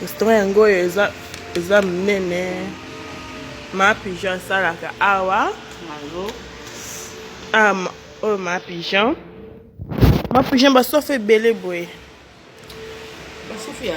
restaurant yango oyo eza eza monene ma pigeon asalaka awa ah, oyo ma pigeon ma pigeon basofa ebele boye basofi ya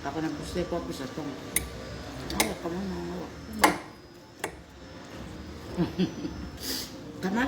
Ako na buse ko pisa tongo. Awa kama na awa. Kama